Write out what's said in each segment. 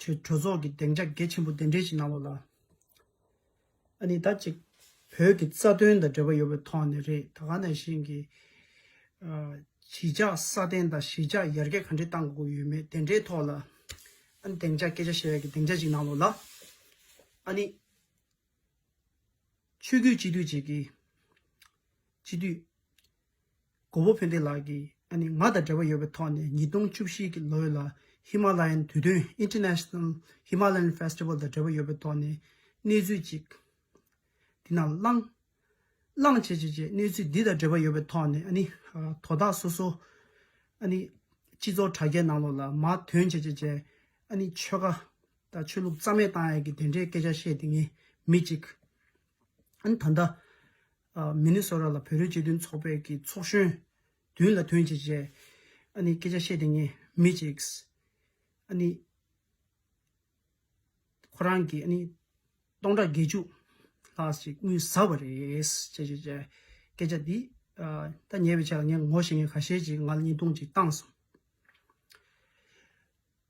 ཆོས་གྲོགས་ཚོགས་ཀྱི་གདེང་ཆ་གལ་ཆེན་པོ་གདན་འདྲེན་བཞིན་གནང་བ་ལ་ཨ་ནི་ད་ཅིག་བོད་ཀྱི་རྩ་དོན་དང་འབྲེལ་བ་ཡོད་པའི་ཐོག་ནས་རེད་ད་ག་ནས་གཞན་གྱི་གཞིས་ཆགས་སྲ་བརྟན་དང་གཞིས་ཆགས་ཡར་རྒྱས་ག་འདྲའི་བཏང་དགོས་ཡོད་མེད་དེ་འདྲའི་ཐོག་ལ་ཨ་ནི་གདེང་ཆ་སྐད་ཆ་བཤད་ཡག་གི་གདེང་ཆ་ཞིག་གནང་བ་ལ་ཨ་ནི། ཆོས་རྒྱུད་སྤྱི་འཐུས་གཅིག་གིས་སྤྱི་འཐུས། གོ་བོ་ཕན་བདེ་ལགས་ཀྱིས་ནི་ང་དང་འབྲེལ་བ་ཡོད་པའི་ཐོག་ནས་ཉིས་སྟོང་བཅུ་བཞི་གི་ལོའི་ལ་ཧི་མ་ལ་ཡན་དུས་སྟོན International Himalayan Festival དང་འབྲེལ་བ་ཡོད་པའི་ཐོག་ནས་གནས་ཚུལ་ཅིག་འདི་ན་བླངས། བླངས་བྱས་བྱས་བྱས་གནས་ཚུལ་འདི་དང་འབྲེལ་བ་ཡོད་པའི་ཐོག་ནས་ནི་དོ་བདག་སོ་སོ་ནི་སྤྱི་ཚོགས་དྲ་རྒྱའི་ནང་ལོགས་ལ་མ་དོན་བྱས་བྱས་བྱས་ནི་ཆོལ་ཁ་དང་ཆོས་ལུགས་རྩ་མེད་བཏང་ཡ་གི་དེ་འདྲའི་སྐད་ཆ་བཤད་དེ་ངས་མི་གཅིག་ནི་ད་ལྟ་མི་ནི་སོ་ར་ལ་བོད་རིགས་སྤྱི་མཐུན་ཚོགས་པའི་ཀྱི་ཚོགས་གཞོན། དོན་ལ་དོན་བྱེད་ཅེས། ཨ་ནི་སྐད་ཆ་བཤད་དེ་ངས་མི་གཅིགས། ཨ་ནི། ཁོ་རང་གི་ཨ་ནི། སྟོང་ཕྲག་བརྒྱད་ཅུ། ལྷག་ཅིག་དངུལ་ཟ་བ་རེད། ཅེས་བྱས། སྐད་ཆ་འདི། ད་ཉེ་བའི་ཆར་ལ་ངས་ངོ་ཤེས་མཁན་ཁ་ཤས་ཀྱིས་ང་ལ་བརྙན་ཐུང་ཅིག་བཏང་སོང།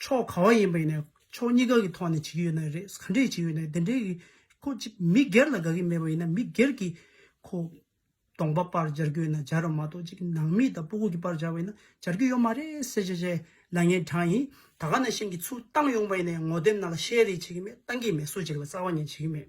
ཕྱོགས་གང་ཡིན་པ་ཡིན་ནས་ཕྱོགས་གཉིས་ཀ་གི་ཐོག་ནས་བྱེད་ཀྱི་ཡོད་ན་རེད་ག་འདྲས་བྱེད་ཀྱི་ཡོད་ནས་དེ་འདྲས་ཀྱི་ཁོ་ཅི་མི་སྒེར་ལ་དགའ་གི་མེད་པ་ཡིན་ན་མི་སྒེར་གྱི་ཁོ་གདོང་པ་པར་སྦྱར་རྒྱུ་ཡོད་ན་སྦྱར་རོགས་མ་གཏོགས་ཅིག་ནང་མི་དང་སྤོ་སྒུག་གི་པར་སྦྱར་བ་ཡིན་ན་སྦྱར་རྒྱུ་ཡོད་མ་རེད་སེ་བྱས་བྱས་ལ་ངས་དྲངས་ཡིན་ད་ག་ནས་ཤེས་ཀྱི་ཚུར་བཏང་ཡོང་པ་ཡིན་ནས་ངོ་དེབ་ནང་ལ་བཤད་རེས་བྱེད་ཀྱི་མེད་བཏང་གི་མེད་སུ་བྱེད་ཀྱི་ལ་རྩ་བ་ཉིད་བྱེད་ཀྱི་མེད།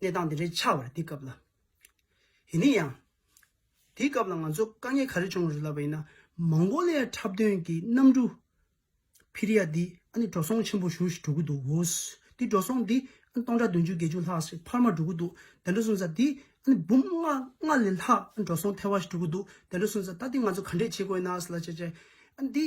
གནས་སྟངས་དེ་འདྲའི་ཆགས་བར་འདི་སྐབས་ལ། ཡིན་ནའི་ཡང། དེའི་སྐབས་ལ་ང་ཚོ་དཀའ་ངལ་ག་རེ་བྱུང་རེད་ལབ་པ་ཡིན་ན། མང་གོ་ལའི་འཁྲབ་སྟོན་གྱི་གནམ་གྲུ། བྷི་རི་ཡ་འདི་ཨ་ནི་འགྲོ་སོང་ཆེན་པོ་བཞུར་ཞིག་འགྲོ་གི་འདུག་འོ། འདི་འགྲོ་སོང་འདི་ཨ་ནི་སྟོང་ཕྲག་བདུན་ཅུ་བརྒྱད་ཅུ་ལྷག་ཞིག་འཕར་མ་འགྲོ་གི་འདུག་དེ་འདྲ་སོང་ཙང་འདི་ཨ་ནི་འབུམ་ལྔ་ལྔ་ལས་ལྷག་ཨ་ནི་འགྲོ་སོང་ཐལ་བ་ཞིག་འགྲོ་གི་འདུག་དེ་འདྲ་སོང་ཙང་ད་འདི་ང་ཚོ་ག་འདྲས་བྱེད་དགོས་ན་ཟེར་ལ་བྱས་བྱས། ཨ་ནི་འདི།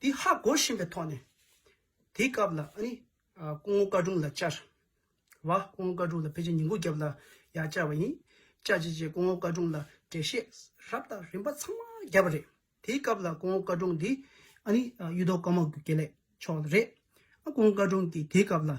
དེ་ཧ་གོ་བཞིན་པའི་ཐོག་ནས། དེའི་སྐབས་ལ་ཨ་ནི། སྐུ་ངོ་བཀའ་དྲུང་ལ་བཅར། བ། སྐུ་ངོ་བཀའ་དྲུང་ལ་ཕལ་ཆེར་ཉིན་གུང་བརྒྱབ་ལ་ཡང་བཅར་བ་ཡིན། བཅར་བྱས་རྗེས་སྐུ་ངོ་བཀའ་དྲུང་ལ་འགྲེལ་བཤད་རབ་དང་རིམ་པ་ཚང་མ་བརྒྱབ་པ་རེད། དེའི་སྐབས་ལ་སྐུ་ངོ་བཀའ་དྲུང་འདི་ཨ་ནི། གཡུ་ཐོག་དཀར་མོ་དགེ་ལེགས་མཆོག་ལ་རེད། སྐུ་ངོ་བཀའ་དྲུང་གིས་དེའི་སྐབས་ལ།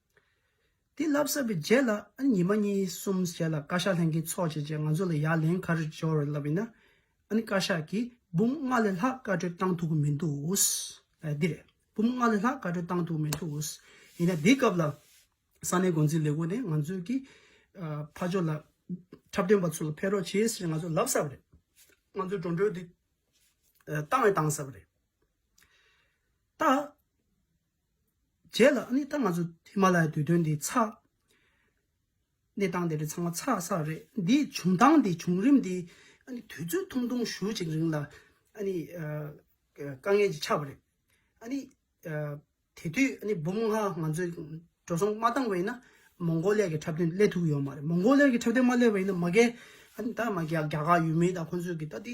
དེ་ལབ་ཟབ་པའི་རྗེས་ལ་ཨ་ནི་ཉི་མ་གཉིས་གསུམ་རྗེས་ལ་བཀའ་ཤག་ལྷན་ཁེ་ཚོགས་བྱས་རྗེས་ང་ཚོ་ལ་ཡ་ལན་ག་རེ་འབྱོར་ལབ་ཡིན་ན། ཨ་ནི་བཀའ་ཤག་གིས་འབུམ་ལྔ་ལས་ལྷག་བཀའ་གྲོས་བཏང་ཐུག་གི་མི་འདུག་ཨོ། འདི་རེད། འབུམ་ལྔ་ལས་ལྷག་བཀའ་གྲོས་བཏང་ཐུག་གི་མི་འདུག་ཨོ། ཡིན་ན་དེའི་སྐབས་ལ་ས་གནས་འགོ་འཛིན་ལས་ཁུངས་ནས་ང་ཚོའི་གི་ཕ་ཇོ་ལ་འཁྲབ་སྟོན་པ་ཚོ་ལ་ཕེབས་རོགས་བྱས་ཟེར་ནས་ང་ཚོ་ལབ་ཟབ་རེད། ང་ཚོའི་འགྲོ་འགྲོལ་དེ་བཏང་བས་བཏང་ཟབ་རེད། ད། རྗེས་ལ་ཨ་ནི་ད་ང་ཚོ་ཧི་མ་ལ་ཡའི་དུས་སྟོན་འདི་ཚགས། གནས་སྟངས་དེ་རིགས་ཚང་མ་ཚགས་བསགས་རེད། འདིའི་བྱུང་སྟངས་འདི་བྱུང་རིམ་འདི་ཨ་ནི་དུས་ཚོད་ཐུང་ཐུང་ཞུ་གཅིག་རིང་ལ་ཨ་ནི་དཀའ་ངལ་ཅིག་ཆགས་པ་རེད། ཨ་ནི་དེ་དུས་ཨ་ནི་འབུམ་ལྔ་ང་ཚོས་འགྲོ་སོང་མ་བཏང་བ་ཡིན་ན་མོང་གོ་ལེ་གི་འཁྲབ་སྟོན་སླེབས་ཐུབ་ཀྱི་ཡོད་མ་རེད། མོང་གོ་ལེ་གི་འཁྲབ་སྟོན་མ་སླེབས་པ་ཡིན་ན་མ་གལ་ཨ་ནི་ད་ང་རྒྱ་གར་ཡུལ་མི་དང་ཁོང་ཚོས་ཀྱི་ད་དེ་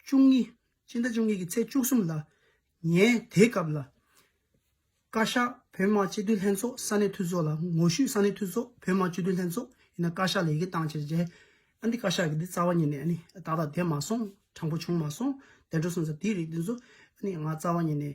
བཅུ་གཉིས། སྤྱི་ཟླ་བཅུ་གཉིས་ཀྱི་ཚེས་བཅུ་གསུམ་ལ། ངས་དེའི་སྐབས་ལ། བཀའ་ཤག་བོད་དམག་སྤྱི་འཐུས་ལྷན་ཚོགས་ས་གནས་འཐུས་ཚོགས་ལ་ངོ་བཤུས་ས་གནས་འཐུས་ཚོགས་བོད་དམག་སྤྱི་འཐུས་ལྷན་ཚོགས་ཡིན་ན་བཀའ་ཤག་ལ་ཡི་གེ་བཏང་ཕྱིར་རྗེས་ཨ་འདི་བཀའ་ཤག་གི་འདི་རྩ་བ་ཉིད་ནས་ཨ་ནི་ཏག་ཏག་བསྡད་མ་སོང་དྲང་པོ་བྱུང་མ་སོང་བདེ་འགྲོ་སོང་ཟེར་དེའི་རིགས་འདི་ཚོ་ཨ་ནི་ང་རྩ་བ་ཉིད་ནས་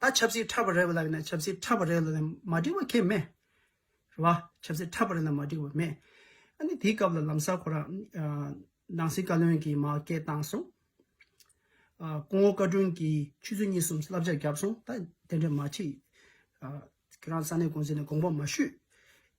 ད་ཆབ་སྲིད་ཁྲ་བ་རེད་ལབ་ན་ཆབ་སྲིད་ཁྲ་བ་རེད་ལབ་ན་མ་འགྲིག་བ་ཁེ་མེད། རེད་བ། ཆབ་སྲིད་ཁྲ་བ་རེད་ན་མ་འགྲིག་བ་མེད། ཨ་ནི་དེའི་སྐབས་ལ་ལམ་སར་ཁོ་རང། ནང་སྲིད་བཀའ་བློན་གྱི་མ་སྐད་བཏང་སོང། སྐུ་ངོ་བཀའ་དྲུང་གིས་ཆུ་ཚོད་གཉིས་གསུམ་བསླབ་བྱ་བརྒྱབ་སོང་ད་དེ་འདྲ་མ་བྱེད། ཁྱེད་རང་ས་གནས་དགོངས་ཟེར་ནས་དགོངས་པ་མ་ཞུས།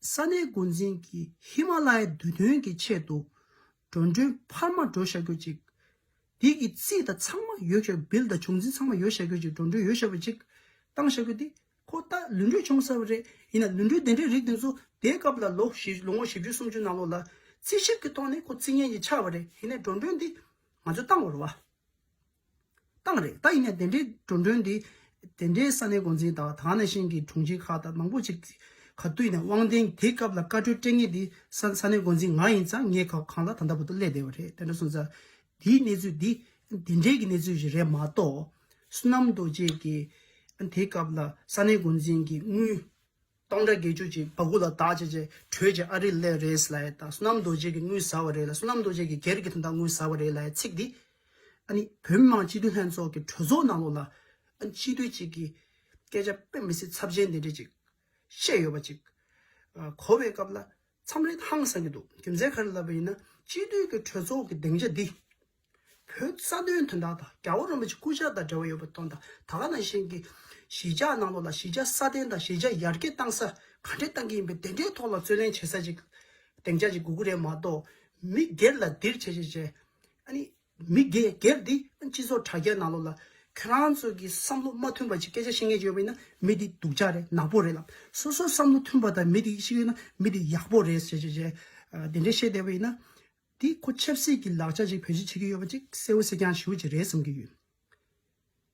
ས་གནས་འགོ་འཛིན་གྱིས་ཧི་མ་ལ་ཡའི་འདུས་དོན་གྱི་ཆེད་དུ་འགྲོ་མགྲོན་འཕར་མ་འགྲོ་ཤག་ཡོད་ཅིག། དེ་གི་རྩིས་དང་ཚང་མ་ཡོད་ཤག་བིལ་དང་བྱུང་འཛིན་ཚང་མ་ཡོད་ཤག་ཡོད་ཅིག་འགྲོ་མགྲོན་ཡོད་ཤག་ཡོད་ཅིག་བཏང་ཤག་ཡོད་དེ། ཁོ་ལྟ་ལུས་འགྲོས་ཆུང་ས་བ་རེད་ཡིན་ན་ལུས་འགྲོས་དེ་འདྲའི་རིགས་དེ་ཚོ་དེའི་སྐབས་ལ་ལོ་བཞི་ལོ་ངོ་བཞི་བཅུ་སུམ་ཅུ་ནང་ལོགས་ལ་རྩིས་ཞིབ་ཀྱི་ཐོག་ནས་ཁོ་རྩིས་ངན་གྱི་ཆགས་བ་རེད་ཡིན་ན་འགྲོ་མགྲོན་དེ་ང་ཚོས་བཏང་བར་བ། བཏང་རེད་ད་ཡིན་ནས་དེ་འདྲའི་འགྲོ་འགྲོན་འདི། དེ་འདྲའི་ས་གནས་འགོ་འཛིན་དང་དག་ནས་ཤེས་ཀྱི་དྲུང་ཆེ་ཁག་དང་མང་པོ་ཅིག་ག་བཏུས་ནས་དབང་ལྡན་དེ་སྐབས་ལ་བཀའ་འཁྲོལ་སྤྲད་ངེས་འདི་ས་གནས་འགོ་འཛིན་ང་ཡིན་ཙང་ངས་ཁ་གང་ལ་ད་ལྟ་བུ་དུ་སླེབས་བསྡད་པ་རེད་དེ་འདྲ་སོང་ཙང་འདིའི་གནས་ཚུལ་འདི་དེ་འདྲའི་གི་གནས་ཚུལ་ཞིག་རེད་མ་གཏོགས། བསོད་ནམས་རྡོ་རྗེས་ཀྱི་དེ་སྐབས་ལ་ས་གནས་འགོ་འཛིན་གྱི་དངུལ། སྟོང་དང་བརྒྱད་ཅུ་ཅིག་བ་གུ་ལ་དག་བྱས་བཅས་གྲོལ་བྱེད་ཨ་རི་ལས་རེས་སླའི་དང་བསོད་ནམས་རྡོ་རྗེ་གི་དངུལ་ཟ་བ་རེ་ལ་བསོད་ནམས་རྡོ་རྗེ་གི་སྒེར་གྱི་དོན་དག་དངུལ་ཟ་བ་རེ་ལའི་ཚིག་འདི། ཨ་ནི་བོད་མི་མང་སྤྱི་འཐུས་ལྷན་ཚོགས་ཀྱི་གྲོས་ཚོགས་ནང་ལོགས་ལ། ཨ་ནི་སྤྱི་འཐུས་ཅིག་གིས། སྐད་ཆ་དཔེ་མི་སྲིད་ཚབས་ཆེན་འདི་འདྲས་ཅིག། བཤད་ཡོད་པ་ཅིག། གོ་བའི་སྐབས་ལ། མཚམས་རེ་ཧང་སངས་ཀྱི་འདུག་རྒྱུ་མཚན་ག་རེ་ལབ་པ་ཡིན་ན་སྤྱི་འཐུས་ཀྱི་གྲོས་ཚོགས་ཀྱི་སྡིངས་ཆ་འདི། བོད་ས་དོན་དོན་དག་དང་རྒྱ་བོད་རོམ་པ་ཆེ་སྐུ་ཕྱྭ་དང་འབྲེལ་བ་ཡོད་པ་དོན་དག་ད་ག་ནང་བཞིན་གྱི། གཞིས་ཆགས་ནང་ལོགས་ལ་གཞིས་ཆགས་སྲ་བརྟན་དང་གཞིས་ཆགས་ཡར་རྒྱས་གཏང་ས་ག་འདྲེ་གཏང་གི་ཡིན་པའི་དེ་འདྲའི་ཐོག་ལ་རྩོད་ལེན་བྱེད་ས་ཅིག་སྡིངས་ཆ་ཅིག་དགོས་ཀྱི་རེད་མ་གཏོགས་མི་སྒེར་ལ་འདིར་བྱས་བྱས་བྱས། ཨ་ནི། མི་སྒེར་སྒེར་འདི་སྤྱི་ཚོགས་དྲ་རྒྱ་ནང་ལོགས་ལ། ཁྱོད་རང་ཚོ་གི་བསམ་བློ་མ་མཐུན་པ་ཅིག་སྐད་ཆ་བཤད་མཁན་ཅིག་ཡོད་པ་ཡིན་ན་མི་འདི་སྡུག་ཅག་རེད་ནག་པོ་རེད་ལ། སོ་སོ་བསམ་བློ་མཐུན་པ་དང་མི་འདི་ཞིག་ཡོད་ན་མི་འདི་ཡག་པོ་རེད་ཞེས་ཞེས་ཞེས་དེ་འདྲའི་བཤད་བསྡད་པ་ཡིན་ན། འདི་ཁོ་ཆབ་སྲིད་ཀྱི་ལག་ཆ་ཅིག་བེད་སྤྱོད་བྱེད་ཀྱི་ཡོད་པ་ཅིག་གསལ་བོ་གསལ་རྐྱང་ཞུ་རྒྱུ་ཅིག་རེད་བསམ་གྱི་ཡོད།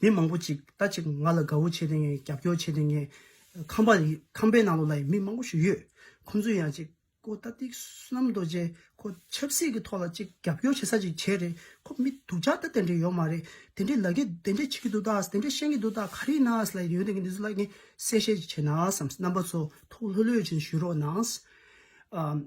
མི་མང་པོ་ཅིག་ད་ཅིག་ང་ལ་དགའ་བོ་བྱས་ཏེ་ངའི་རྒྱབ་སྐྱོར་བྱས་ཏེ་ངའི་ཁང་པ་ཡི་ཁང་པའི་ནང་ལོགས་ལ་ཡི་མི་མང་པོ་ཞིག་ཡོད། ཁོ་ཚོས་ཡང་ཅིག་ཁོ་ལྟ་སྟེ་བསོད་ནམས་རྡོ་རྗེ་ཁོ་ཆབ་སྲིད་ཀྱི་ཐོག་ལ་ཅིག་རྒྱབ་སྐྱོར་བྱེད་ས་ཅིག་བྱས་རེད་ཁོ་མི་སྡུག་ཅག་ད་དེ་འདྲས་ཡོད་མ་རེད་དེ་འདྲས་ལ་གི་དེ་འདྲས་བྱེད་ཀྱི་འདུག་ད་དེ་འདྲས་བཤད་ཀྱི་འདུག་ད་ག་རེ་ན་ལ་ཡོད་དེ་གི་འདི་ཚོ་ལ་གི་གསལ་བཤད་ཅིག་བྱས་ན་བསམ་རྣམ་པ་ཚོ་ཐུགས་ལྷོད་ལྷོད་ཅིག་ཞུ་རོགས་གནང།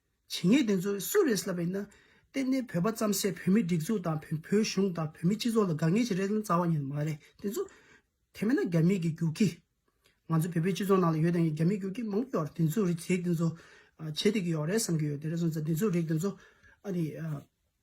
བྱེད་ངེས་དེ་ཚོ་སུ་རེད་ལབ་པ་ཡིན་ན། གཏན་གཏན་བོད་པ་བརྩམ་སའི་བོད་མི་སྒྲིག་འཛུགས་དང་བོད་གཞུང་དང་བོད་མི་སྤྱི་ཚོགས་ལ་དགའ་ངེས་ཤིག་རེད་བསམ་བ་ཡིན་ནི་མ་རེད་དེ་ཚོ། དེ་མེད་ན་རྒྱ་མི་གི་རྒྱུག་ཁྱི། ང་ཚོ་བོད་པའི་སྤྱི་ཚོགས་ནང་ལ་ཡོད་དང་ཡང་རྒྱ་མི་རྒྱུག་ཁྱི་མང་པོ་ཡོད་དེ་ཚོ་རིགས་དེ་ཚོ། བྱེད་དེ་གི་ཡོད་རེད་བསམ་གི་ཡོད་དེ་རེད་བསམ་ས་དེ་ཚོ་རིགས་དེ་ཚོ། ཨ་རིའི།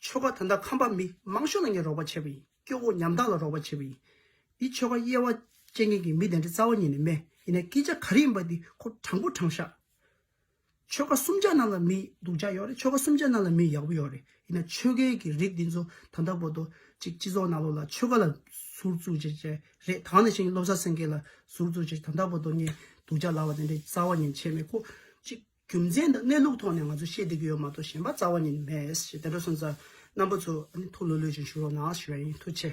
ཆོ་ག་ད་ལྟ་ཁམས་པ་མི་མང་ཤོས་ལ་ངས་རོགས་པ་བྱས་པ་ཡིན་སྐྱོ་བོ་ཉམ་ཐག་ལ་རོགས་པ་བྱས་པ་ཡིན། འདི་ཆོ་ག་དབྱེ་བ་ཅན་མཁན་གྱི་མི་དེ་འདྲ་རྩ་བ་ཉིད་ནས་མེད་ཡིན་ན་སྐད་ཆ་ག་རེ་ཡིན་པ་འདི་ཁོ་དྲང་པོ་དྲང་ཤག་ཆོ་ག་གསུམ་ཆ་རྣམས་ལ་མི་སྡུག་ཅག་ཡོད་རེད་ཆོ་ག་གསུམ་ཆ་རྣམས་ལ་མི་ཡག་པོ་ཡོད་རེད་ཡིན་ན་ཆོས་རྒྱལ་གྱི་རིགས་འདི་ཚོ་ད་ལྟ་བོ་ཏོ་ཅིག་སྤྱི་ཚོགས་ནང་ལོག་ལ་ཆོས་ག་ལ་ཟུར་བཙུགས་བྱེད་ཅེས་རེད་དང་ནས་ཤིང་བློ་བཟང་སེང་གེ་ལ་ཟུར་བཙུགས་བྱེད་ད་ལྟ་བོ་ཏོ་ངས་སྡུག་ཅག་ལབ་པ་དེ་འདྲའི་རྩ་བ་ཉིད་བྱས་མེད་ཁོ་ཅིག། རྒྱུ་མཚན་དང་གནས་ལུགས་ཐོག་ནས་ང་ཚོ་ཤེས་བསྡད་ཀྱི་ཡོད་མ་གཏོགས་གཞན་པ་རྩ་བ་ཉིད་མེད། དེ་འདྲ་སོང་ཙང་རྣམ་པ་ཚོ་ཐུགས་ལྷོད་ལྷོད་ཅིག་ཞུ་རོགས་གནང་ཞུ་བ་ཡིན། ཐུགས་ཆེ།